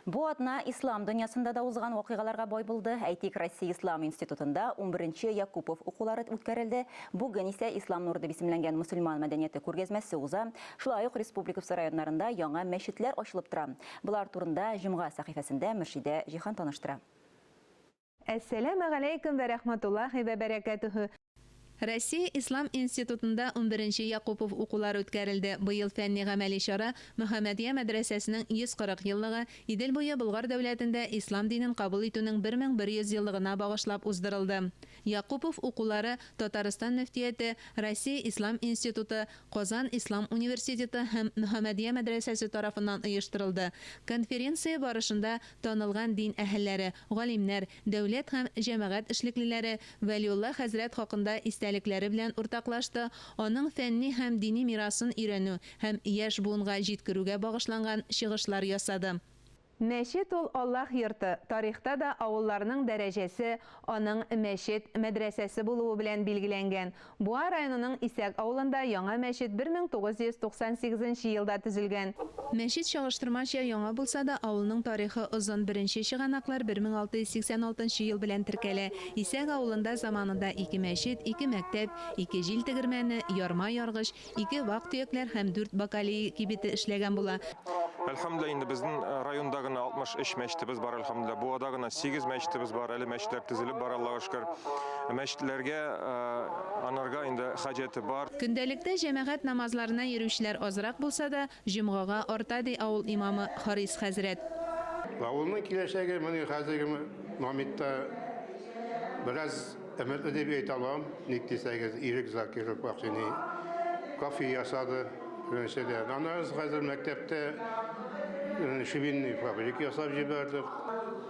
Бу атна ислам дөньясында да узган вакыйгаларга бай булды. Әйтик, Россия ислам институтында унберенче Якупов укулары үткәрелде. Бүген исә Ислам нуры дип исемләнгән мөселман мәдәнияте күргәзмәсе уза. Шулай ук республикабз районнарында яңа мәчетләр ачылып тора. Болар турында җомга сәхифәсендә Мөршидә Җиһан таныштыра. Әссәләмә галәйкүм вә рәхмәтуллаһи вә бәрәкәтүһү! Россия Ислам институтында унберенче Якупов укулары үткәрелде. Быел фәнни-гамәли чара Мөхәммәдия мәдрәсәсенең 140 еллыгы, Идел буе Болгар дәүләтендә ислам динен кабул итүнең 1100 еллыгына багышлап уздырылды. Якупов укулары Татарстан мөфтияте, Россия Ислам институты, Казан ислам университеты һәм Мөхәммәдия мәдрәсәсе тарафыннан оештырылды. Конференция барышында Танылган дин әһелләре, галимнәр, дәүләт һәм җәмәгать эшлеклеләре Вәлиулла хәзрәт хакында истәлекләре белән уртаклашты, аның фәнни һәм дини мирасын өйрәнү һәм яшь буынга җиткерүгә багышланган чыгышлар ясады. Мәчет ул Аллаһ йорты, тарихта да авылларның дәрәҗәсе аның мәчет, мәдрәсәсе булуы белән билгеләнгән, Буа районының Исәк авылында яңа мәчет 1998 нче елда төзелгән. Мәчет чагыштырмача яңа булса да, авылның тарихы озын, беренче чыганаклар 1686 нчы ел белән теркәлә. Исәк авылында заманында ике мәчет, ике мәктәп, ике җил тегермәне, ярма яргыч, Ике вак төякләр һәм дүрт бакалеи кибете эшләгән була. Әлхәмдүлилла, инде безнең районда гына 63 мәчетебез бар, әлхәмдүлилла. Буада гына 8 мәчетебез бар, әле мәчетләр төзелеп бара, Аллага шөкер. Мәчетләргә анарга инде хаҗәте бар. Көндәлектә җәмәгать намазларына йөрүчеләр азрак булса да, Җомгага арта, ди авыл имамы Харис хәзрәт. Авылның киләчәге менә хәзерге моментта бераз өметле дип әйтә алам. Ник дисәгез, Ирек Закиров вакыйный кафе ясады, беренчедән. Аннары без хәзер мәктәптә швейный фабрик ясап җибәрдек.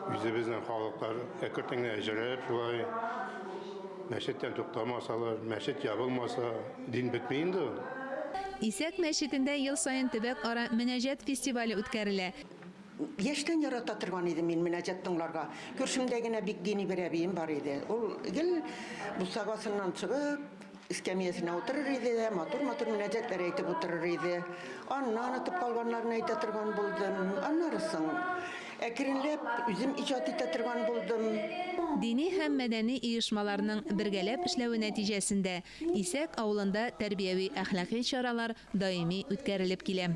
Үзебезнең халыклар әкертенге әҗерәп шулай мәчеттән туктамасалар, мәчет ябылмаса. Дин бетми инде ул. Исәк мәчетендә ел саен төбәк-ара Мөнәҗәт фестивале үткәрелә. Яшьтән ярата торган идем мин мөнәҗәт тыңларга. Күршемдә генә бик дини бер әбием бар иде. Ул гел бусагасыннан чыгып, эскәмиясенә утырыр иде дә, матур-матур мөнәҗәтләр әйтеп утырыр иде. Аннан онытып калганнарны әйтә торган булдым. Аннары соң, әкренләп, үзем иҗат итә торган булдым. Дини һәм мәдәни оешмаларның бергәләп эшләве нәтиҗәсендә, Исәк авылында тәрбияви-әхлакый чаралар даими үткәрелеп килә.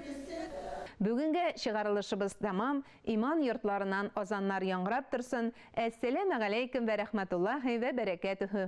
Бүгенге чыгарылышыбыз тәмам, иман йортларыннан азаннар яңгырап торсын, Әссәләмәгаләйкүм вә рәхмәтуллаһи вә бәрәкәтүһү!